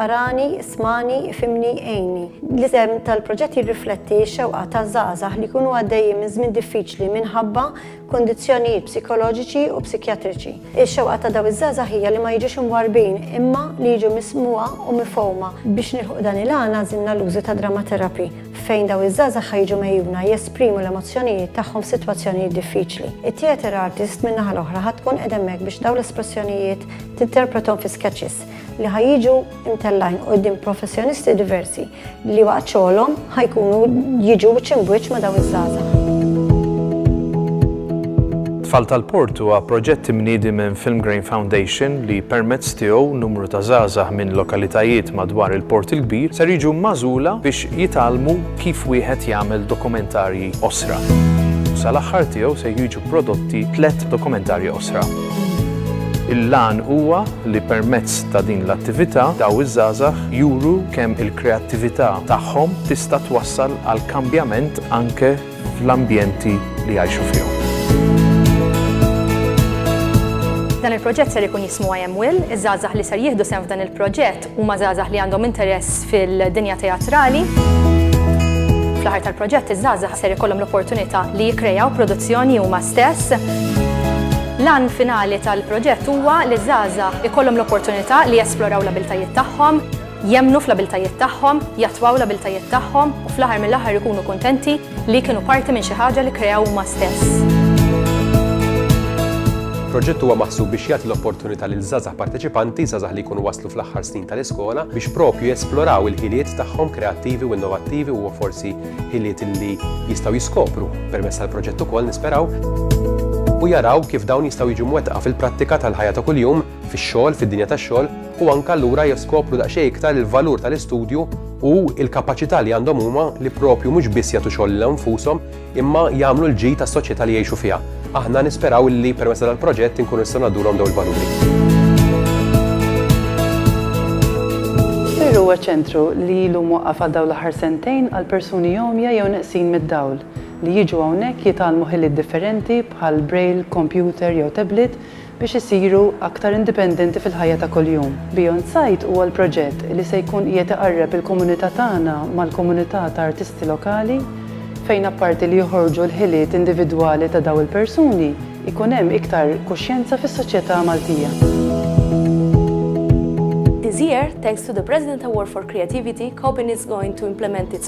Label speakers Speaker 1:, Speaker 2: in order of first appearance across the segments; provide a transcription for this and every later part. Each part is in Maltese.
Speaker 1: Arani, ismagħni, ifhimni, għinni. L-isem tal-proġett jirrifletti x-xewqa ta' żgħażagħ li jkunu għaddejjin minn żmien diffiċli minħabba kundizzjonijiet psikoloġiċi u psikjatriċi. Ix-xewqa ta' dawn iż-żgħażagħ hija li ma jiġux imwarrbin imma li jiġu mismugħa u mifhuma. Biex nilħqu dan il-għan għażilna l-użu ta' Drama Therapy fejn dawn iż-żgħażagħ ħa jiġu megħjuna jesprimu l-emozzjonijiet tagħhom f'sitwazzjonijiet diffiċli. It-theatre artist min-naħa l-oħra ħa tkun qed hemmhekk biex dawn l-espressjonijiet tinterprethom fi sketches. li ħa jiġu imtellajn qudiem professjonisti diversi li waqt xogħolhom ħajkunu jiġu ċimbwiċ ma' daw iż-żgħażagħ. Tfal tal-Port huwa proġett imniedi minn Filmgrain Foundation li permezz tiegħu numru ta' żgħażagħ minn lokalitajiet madwar il-Port il-Kbir ser jiġu magħżula biex jitgħallmu kif wieħed jagħmel dokumentarji qosra. Sal-aħħar tiegħu se jiġu prodotti tliet dokumentarji qosra. Il-għan huwa li permezz ta' din l-attività daw iż-żgħażagħ juru kemm il-kreattività tagħhom tista' twassal għal kambjament anke fl-ambjenti li jgħixu fihom. Dan il-proġett ser ikun jismu I Am Will, iż-żgħażagħ li ser jieħdu sehem f'dan il-proġett Huma żgħażagħ li għandhom interess fil-dinja teatrali. Fl-aħħar tal-proġett iż-żgħażagħ ser ikollhom l-opportunità li jikkrejaw produzzjoni huma stess. L-għan finali tal-proġett huwa li ż-żgħażagħ ikollhom l-opportunità li jesploraw l-abiltajiet tagħhom, jemmnu fl-abiltajiet tagħhom, jattwaw l-abiltajiet tagħhom u fl-aħħar mill-aħħar ikunu kuntenti Li kienu parti minn xi ħaġa li kreaw huma stess. Proġett huwa maħsub biex jagħti l-opportunità lil żgħażagħ parteċipanti, żgħażagħ li jkunu waslu fl-aħħar snin tal-iskola, biex propju jesploraw il-ħiliet tagħhom kreattivi u innovattivi u forsi ħiliet li jistgħu jiskopru permezz tal-proġett ukoll nisperaw, u jaraw kif dawn jistgħu jiġu mwettqa fil-prattika tal-ħajja ta' kuljum. fix-xogħol, fid-dinja tax-xogħol, u anke allura jeskopru daqsxejn iktar il-valur tal-istudju u l-kapaċità li għandhom huma li proprju mhux biss jagħtu xogħol lil nfushom imma jagħmlu l-ġid għas-soċjetà li jgħixu fiha. Aħna nisperaw illi permezz ta' dal-proġett inkunu nistgħu ngħaddulhom dawn il-valuri. Fir huwa ċentru li ilu mwaqqaf għal dawn l-aħħar sentejn għal persuni għomja jew neqsin mid-dawl li jiġu hawnhekk jitgħallmu ħiliet differenti bħall-braille, kompjuter jew tablet biex isiru aktar indipendenti fil-ħajja ta' kuljum. Beyond Sight huwa l-proġett li se jkun qiegħed iqarreb il-komunità tagħna mal-komunità ta' artisti lokali, fejn apparti li joħorġu l-ħiliet individwali ta' dawn il-persuni, ikun hemm iktar kuxjenza fis-soċjetà Maltija. This year, thanks to the President Award for Creativity, Copenhagen is going to implement its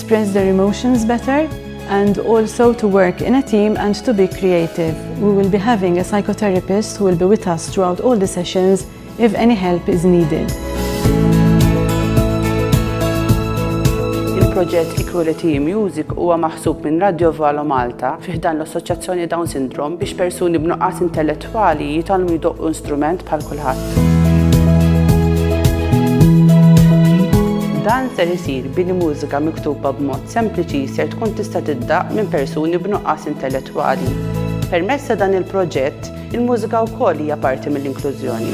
Speaker 1: express their emotions better and also to work in a team and to be creative. We will be having a psychotherapist who will be with us throughout all the sessions if any help is needed. Il-proġett Equality Music huwa maħsub minn Radio Valo Malta fiħdan l-Assoċjazzjoni Down Syndrome biex persuni b'nuqqas intellettuali Tfali jitgħallmu jdoqqu instrument bħal kulħadd. Dan ser isir billi mużika miktuba b'mod sempliċi ser tkun tista' tiddaqq minn persuni b'nuqqas intellettwali. Permezz ta' dan il-proġett, il-mużika wkoll hija parti mill-inklużjoni.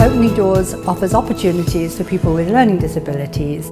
Speaker 1: Open Doors offers opportunities to people with learning disabilities